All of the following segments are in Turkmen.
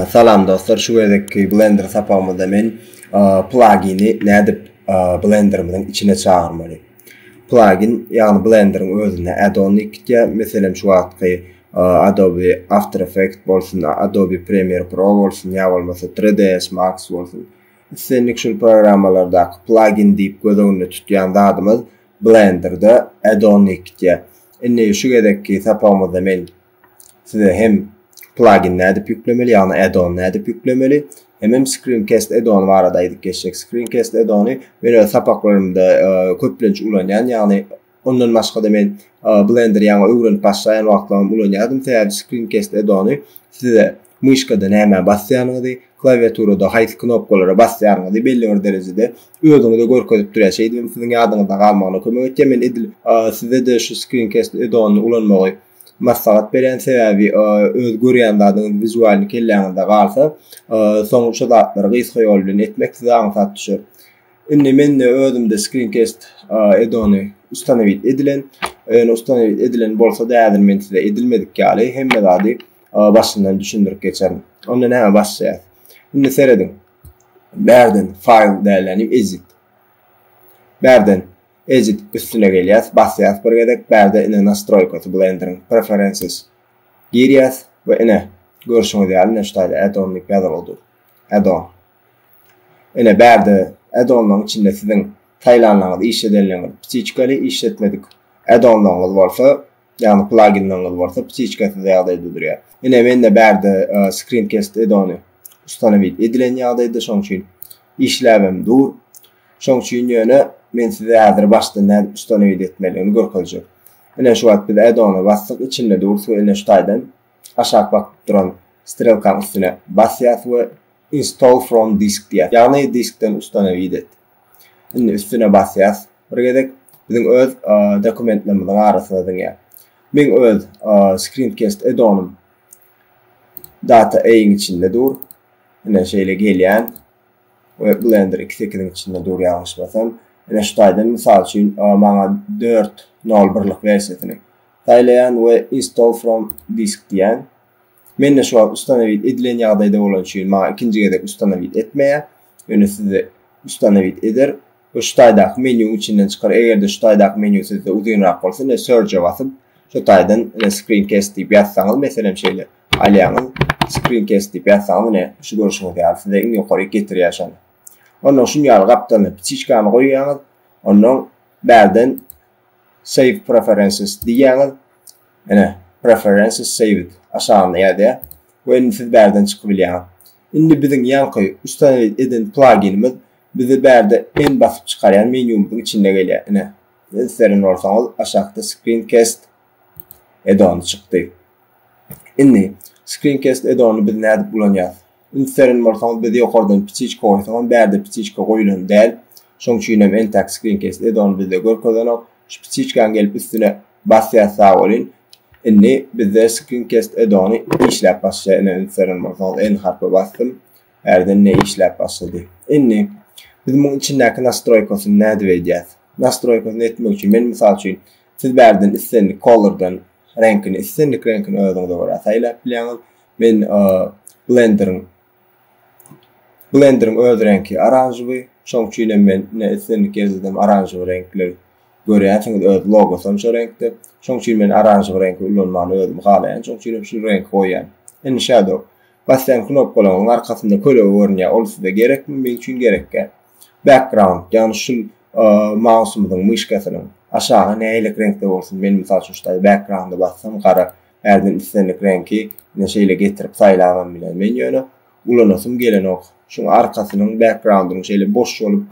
Salam dostlar, şu gezekki Blender sapagymyzda men plagini nädip Blenderimiziň içine çagyrmaly? Plagin, ýagny Blenderiň özünde add-on gitýä. Meselem, şu wagtky Adobe After Effects bolsun, Adobe Premiere Pro bolsun, ýa bolmasa 3ds Max bolsun. Islendik şul programmalardaky plagin diýip göz öňünde tutýan zadymyz Blender-de Add-on Ikitýe. Indi şu gezekki sapagymyzda men size hem plagin nädip ýüklemeli, ýagny Add-on nädip ýüklemeli, hemem Screencast Add-on barada aýdyp geçjek. Screencast Add-ony men öz sapaklarymda köplenç ulanýan, ýagny Ondan başga-da men Blender ýaňy öwrenip başlaýan wagtlaram ulanýardym, sebäbi Screencast Add-ony size myşkada nämä basýanyňyzy, klawiaturada haýsy knopkalara basýanyňyzy belli bir derejede özüňize görkezip durýar. Şeýdibem siziň ýadyňyzda galmagyna kömek edýär. Men edil size-de şu Screencast Add-onyny ulanmagy maslahat berýän, sebäbi öz görýän zadyňyz wizualny kelläňizde galsa, soň şu zatlary gysga ýol bilen etmek size aňsat düşer. Indi mende özümde screencast edony ustanowit edilen. Eger ustanowit edilen bolsa da häzir men size edilmedik ýaly hemme zady başyndan düşündirip geçerin. Onda näme başlaýar? Indi serediň. Bärden file däleni edit. Bärden edit üstüne gelýäs, basýas bir gezek, bärde ine nastroýkasy blenderin preferences girýäs we ine görşüňiz ýaly näştaýda add-on diýip ýazylypdyr. Add-on. Ine, bärde add-onlaryň içinde siziň saýlanlaryňyz, işledenleriňiz ptiçkaly, işletmedik add-onlaryňyz bolsa, ýagny plaginleriňiz bolsa ptiçkasyz ýagdaýda durýar. Ine, mende bärde Screencast add-ony ustanowit edilen ýagdaýda, şonuň üçin işläbem dur. Şonuň üçin ýöne men size häzir başdan nädip ustanowit etmeligini görkezjek. Ine, şu wagt biz add-ony basdyk, içinde durus we ine şu taýdan aşak bakyp duran strelkaň üstüne basýas we Install from disk diýýär. Ýagny diskden ustanow edet. Indi üstüne basýas. Bir gezek biziň öz dokumentlerimiziň arasyna diňe meň öz screencast edonym data A-iň içinde dur. Ine şeýle gelýän. We blender 2.8-iň içinde dur ýalňyşmasam. Ine şu taýdan mysal üçin maňa 4.0 birlik wersiýasyny saýlaýan we install from disk diýýän. Mende şu wagt ustanowit edilen ýagdaýda bolany üçin maňa ikinji gezek ustanowit etmeýär. Ýöne sizde ustanowit eder we şu taýdaky menýuň içinden çykar. Eger-de şu taýdaky menýu sizde uzynrak bolsa ine search-e basyp şu taýdan ine screencast diýip ýazsaňyz meselem şeýle alýaňyz screencast diýip ýazsaňyz ine şu görşüňiz ýaly size iň ýokaryk getirýär şony. Ondan şuny ýaly gapdalyna ptiçkany goýýaňyz. Ondan bärden save preferences diýýäňiz. Ine, Preferences Saved aşagynda ýazýar we indi siz bärden çykyp bilýäňiz. Indi biziň ýaňky ustanowit eden plaginimiz bize bärde men basyp çykarýan menýumyzyň içinde gelýär. Ine, islerin bolsaňyz aşakda Screencast edony çykdy. Indi Screencast edonyny biz nädip ulanýarys? Üns beren bolsaňyz biz ýokardan ptiçka goýsagam bärde ptiçka goýulan däl. Şoň üçinem entäk screencast edony bizde görkezenok. Şu ptiçkany gelip üstüne basýas sag bolýyn. Indi bizde screencast edony işläp başlaýar ine üns beren bolsaňyz N harpy basdym. Bärde ne işläp başlady. Indi biz muň içindäki nastroýkasyny nädip edýäs? Nastroýkasyny etmek üçin men mysal üçin siz bärden islendik kolordan reňkini islendik reňkini özüňize görä saýlap bilýäňiz. Men blenderiň blenderiň öz reňki aranžewi, şoň üçin hem men ne islendik ýerde aranžewi reňkler görýänsiňiz, öz logosy hem şo reňkde. Şoň üçin men aranžewi reňki ulanmany özüm halaýan, şoň üçin hem şu reňki goýýan. Indi Shadow basýan knopkalaryň arkasynda kölege görünýär, ol size gerekmi? Meň üçin gerekýär. Background, ýagny şul mausymyzyň myşkasynyň aşagy nähili reňkde bolsun? Men mysal üçin şu taýda background-a bassam gara Härden islendik reňki ine şeýle getirip saýlabam biler. Men ýöne ulanasym gelenok. Şuň arkasynyň backgroundynyň şeýle boş bolup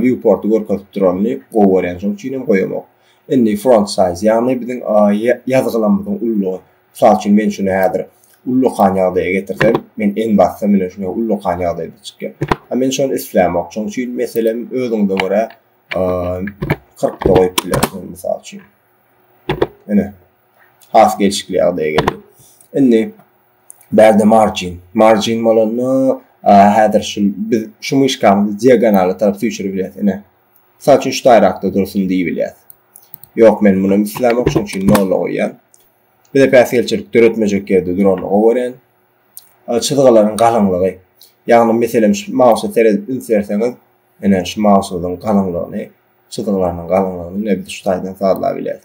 viewporty görkezip duranyny gowy görýän. Şoň üçin hem goýamok. Indi front size ýagny biziň ýazgylamyzyň ullugy. Mysal üçin men şuny häzir ullakan ýagdaýa getirsem, men en bassam ine şuňa ullakan ýagdaýda çykýar. A men şony islämok. Şoň üçin meselem özüňize görä kyrkda goýup bilersiňiz mysal üçin. Ine. has gelşikli ýagdaýa geldi. Indi bärde margin, margin bolanda häzir şu biz şu myşkamyzy diagonala tarap süýşürip bilýäris. Ine. Mysal üçin şu taýrakda dursun diýip bilýäris. Ýok, men muny islämok, şonuň üçin nolla goýýan. Bize päsgelçilik döretmejek ýerde duranyny gowy çyzgylaryň galyňlygy. Ýagny meselem şu mausa seredip üns berseňiz, ine şu mausyň galyňlygyny, çyzgylarynyň galyňlygyny ine biz şu taýdan sazlap bilýäris.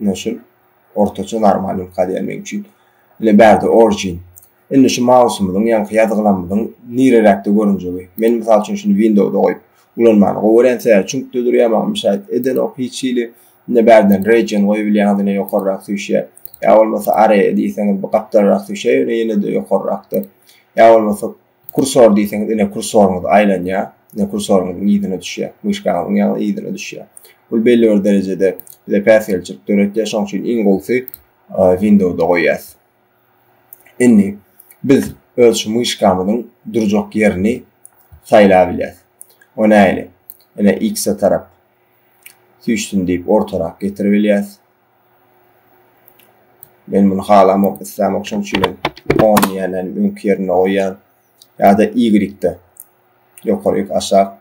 Ine şul ortaça normal ülka diýen meň üçin. Ine bärde origin. Indi şu mausymyzyň ýaňky ýazgylamyzyň nireräkde görünjegi. Men mysal üçin şuny windowda goýup ulanmany gowy görýän sebäbi çüňkde durýar maňa müşäet edenok hiç hili. Ine bärden region goýubilýäňiz ine ýokarrak süýşýär. Ýa bolmasa area diýseňiz bu gapdalrak süýşýär ýöne ýene-de ýokarrakda. Ýa bolmasa Kursor diýseňiz ine kursoryňyz aýlanýar. Ine kursoryňyzyň yzyna düşýär. Myşkaňyzyň ýaňy yzyna düşýär. Bu belli bir derejede bize päsgelçilik döretýär. Şonuň üçin iň gowusy Windowsda goýýas. Indi biz öz şu myşkamyzyň durjak ýerini saýlap bilýäs. O nähili? Ine X-e tarap süýşsün diýip ortarak getirip bilýäs. Men muny halamok, islämok, şonuň üçin hem on diýýän hem öňki ýerinde goýýan. Ýa-da Y-de ýokary ýok aşak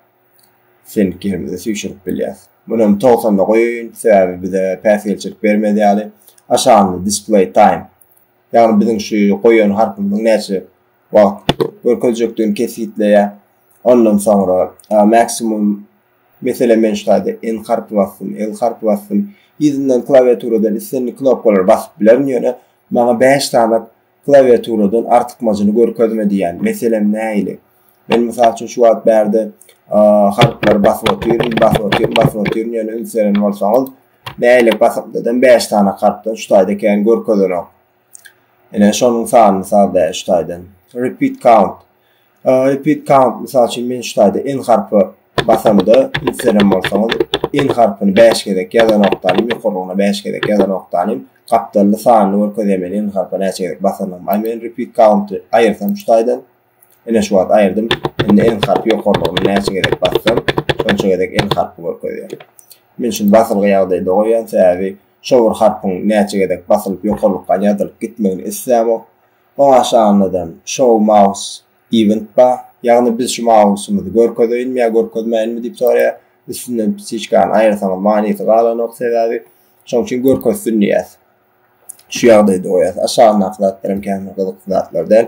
seňki ýerimize süýşürip bilýär. Muny hem 90-da goýaýyn, sebäbi bize päsgelçilik bermez ýaly. Aşagynda display time. Ýagny biziň şu goýan harpymyzyň näçe wagt görkezjekdigini kesgitleýär. Ondan soňra maksimum Meselem, men şu taýda N harpy basdym, L harpy basdym. Yzyndan klawiaturadan islendik knopkalary basyp bilerin, ýöne maňa bäş sany klawiaturadan artykmajyny görkezme diýýän. Meselem, nähili? Men, mysal üçin, şu wagt bärde harplary basyp otyryn, basyp otyryn, basyp otyryn, ýöne üns beren bolsaňyz, nähili basymdadam bäş sany harpdan şu taýda kän görkezenok. Ine, şonuň sanyny sal-da şu taýdan. Repeat count. Repeat count, mysal üçin men şu taýda N harpy basamda, indi siz hem bolsaňyz N harpyny bäş gezek ýazanokdanym, ýokarlygyna bäş gezek ýazanokdanym, gapdalda sanyny görkezýär men N harpy näçe gezek basandygymy. Aý men repeat count-y aýyrsam şu taýdan, ine şu wagt aýyrdym, indi N harpy ýokarlygyna näçe gezek bassam, şonça gezek N harpy görkezýär. Men şuny basylgy ýagdaýda goýýan, sebäbi şo bir harpyň näçe gezek basylyp ýokarlykdan ýazylyp gitmegini islämok. Başlanydam Show Mouse Event bar, ýagny biz şu mausymyzy görkezeýinmi ýa görkezmäýinmi diýip soraýar. Üstünden psiçkany aýyrsaňyz manysy galanok, sebäbi şoň üçin görkezsin diýýäs. Şu ýagdaýda goýýas. Aşagyndaky zatlaram känbir gyzykly zatlar däl.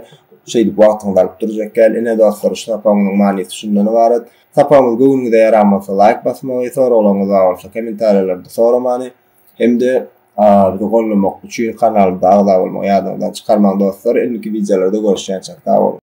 Şeýdip wagtyňyzy alyp durjak däl. Ine dostlar şu sapagymyzyň manysy şundan ybarat. Sapagymyz göwnüňize ýaran bolsa laýk basmagy, soraglaryňyz bar bolsa kommentariýalarda soramany, Hem-de bizi gollamak üçin kanalymyza agza bolmagy ýadyňyzdan çykarmaň dostlar indiki wideolarda görüşýänçek sag boluň.